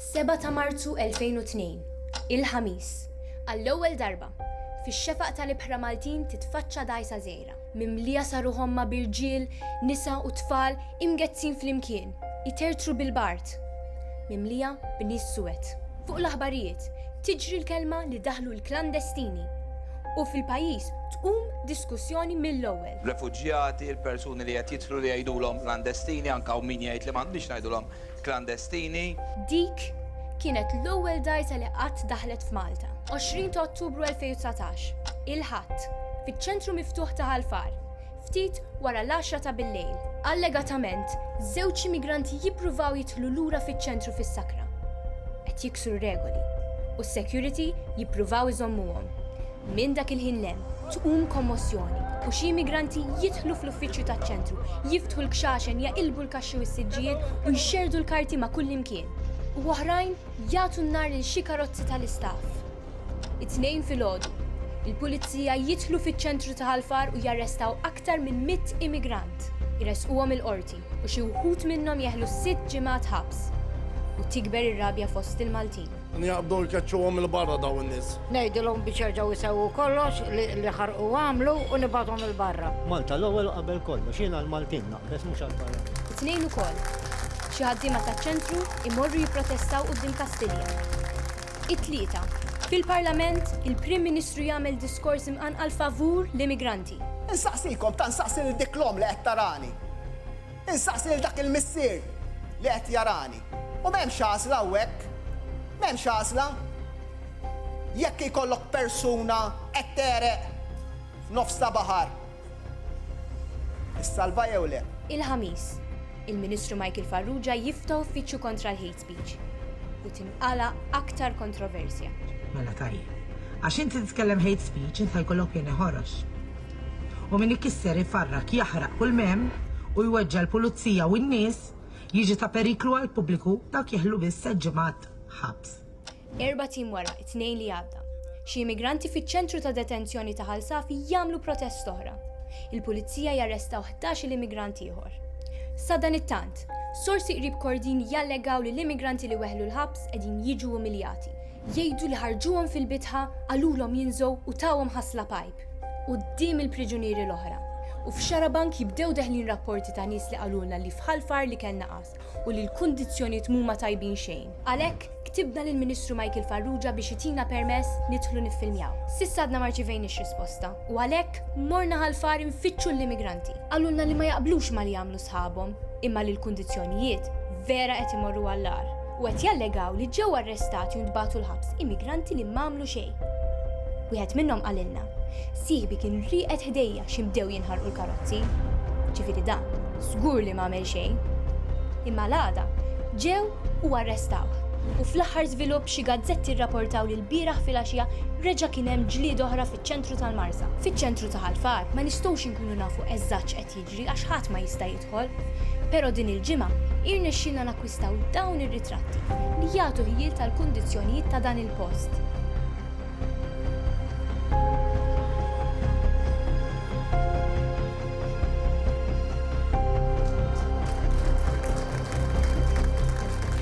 Seba' ta' Marzu 2002, il-Ħamis, għall-ewwel darba, fix-xefaq tal-ibħra Maltin titfaċċa dgħajsa żgħira, mimlija sa ruħomha b'irġiel, nisa u tfal imgezzin flimkien, itertru bil-bard, mimlija b'nies suwed. Fuq l-aħbarijiet tiġri l-kelma li daħlu l-klandestini u fil-pajjiż tqum diskussjoni mill-ewwel. refuġjati, il-persuni li qed jidħlu li jgħidulhom klandestini, anke hawn min jgħid li m'għandniex ngħidulhom klandestini. Dik kienet l-ewwel dgħajsa li qatt daħlet f'Malta. 20 ta' Ottubru 2019, il-Ħadd, fiċ-ċentru miftuħ ta' Ħal Far, ftit wara l-għaxra ta' billejl. Allegatament, żewġ immigranti jippruvaw jidħlu lura fiċ-ċentru fis-sakra. Qed jiksru r-regoli, u s-security jippruvaw iżommuhom. Minn dak il-ħin 'l hemm tqum kommossjoni u xi immigranti jidħlu fl-uffiċċju taċ-Ċentru, jiftħu l-kxaxen, jaqilbu l-kaxxi u s-siġġijiet u jxerrdu l-karti ma' kullimkien. U oħrajn jagħtu n-nar lil xi karozzi tal-istaff. It-Tnejn filgħodu, il-Pulizija jidħlu fiċ-Ċentru ta' Ħal Far u jarrestaw aktar minn mitt immigrant. Iressquhom il-Qorti u xi wħud minnhom jeħlu sitt ġimgħat ħabs. U tikber ir-rabja fost il-Maltin. Nqabdu nkeċċuhom 'il barra dawn in-nies. Ngħidilhom biex jerġgħu jsewwu kollox li ħarqu u għamlu u nibgħathom 'il barra. Malta l-ewwel u qabel kollox. Jien għall-Maltin naqbeż mhux għall-barranin. It-Tnejn ukoll, xi ħaddiema taċ-Ċentru jmorru jipprotestaw quddiem Kastilja. It-Tlieta, fil-Parlament, il-Prim Ministru jagħmel diskors imqanqal favur l-immigranti. Insaqsikom, ta' nsaqsi lil dik l-omm li qed tarani. Insaqsi lil dak il-missier li qed jarani. U m'hemmx għażla hawnhekk. M'hemmx għażla. Jekk ikollok persuna qed tegħreq f'nofs ta' baħar, issalvha jew le? Il-Ħamis, il-Ministru Michael Farrugia jifta' uffiċċju kontra l-hate speech u tinqala' aktar kontroversja. Mela tajjeb. Għax inti titkellem hate speech inta jkollok pjan iħorox. U min ikisser, ifarrak, jaħraq kull m'hemm u jweġġa' l-pulizija u n-nies, Jiġi ta' periklu għall-pubbliku, dawk jeħlu biss set ġimgħat ħabs. Erbat ijiem wara, it-Tnejn li għadda, xi immigranti fiċ-ċentru ta' detenzjoni ta' Ħal Safi jagħmlu protest oħra. Il-Pulizija jarrestaw ħdax-il immigrant ieħor. Sadanittant, sorsi qrib Kordin jallegaw li l-immigranti li weħlu l-ħabs qegħdin jiġu umiljati. Jgħidu li ħarġuhom fil-bitħa, qalulhom jinżgħu u tawhom ħasla pajp quddiem il-priġunieri l-oħra. U f'Xarabank jibdew deħlin rapporti ta' nies li qalulna li f'Ħal Far li kellna qasr u li l-kundizzjonijiet mhuma tajbin xejn. Għalhekk, ktibna lill-Ministru Michael Farrugia biex itina permess nidħlu niffilmjaw. S'issa għadna ma rċivejniex risposta u għalhekk morna Ħal Far infittxu l-immigranti. Qalulna li ma jaqblux ma' li jagħmlu sħabhom imma li l-kundizzjonijiet vera qed imorru għall-agħar. u qed jallegaw li ġew arrestati u ntbagħtu l-ħabs immigranti li m'għamlu xejn. Wieħed minnhom qalilna, Sieħbi kien rieqed ħdejja xi bdew jinħarqu l-karozzi. Ġifieri dan, żgur li m'għamel xejn. Imma l-għada, ġew u arrestawh. U fl-aħħar żvilupp xi gazzetti rraportaw li lbieraħ filgħaxija reġa' kien hemm ġlieda oħra fiċ-ċentru tal-Marsa. Fiċ-ċentru ta' Ħal Far ma nistgħux inkunu nafu eżatt x'qed jiġri. jiġri għax ħadd ma jista' jidħol. Però din il-ġimgħa irnexxielna nakkwistaw dawn ir-ritratti li jagħtu ħjiel tal-kundizzjonijiet ta' dan il-post.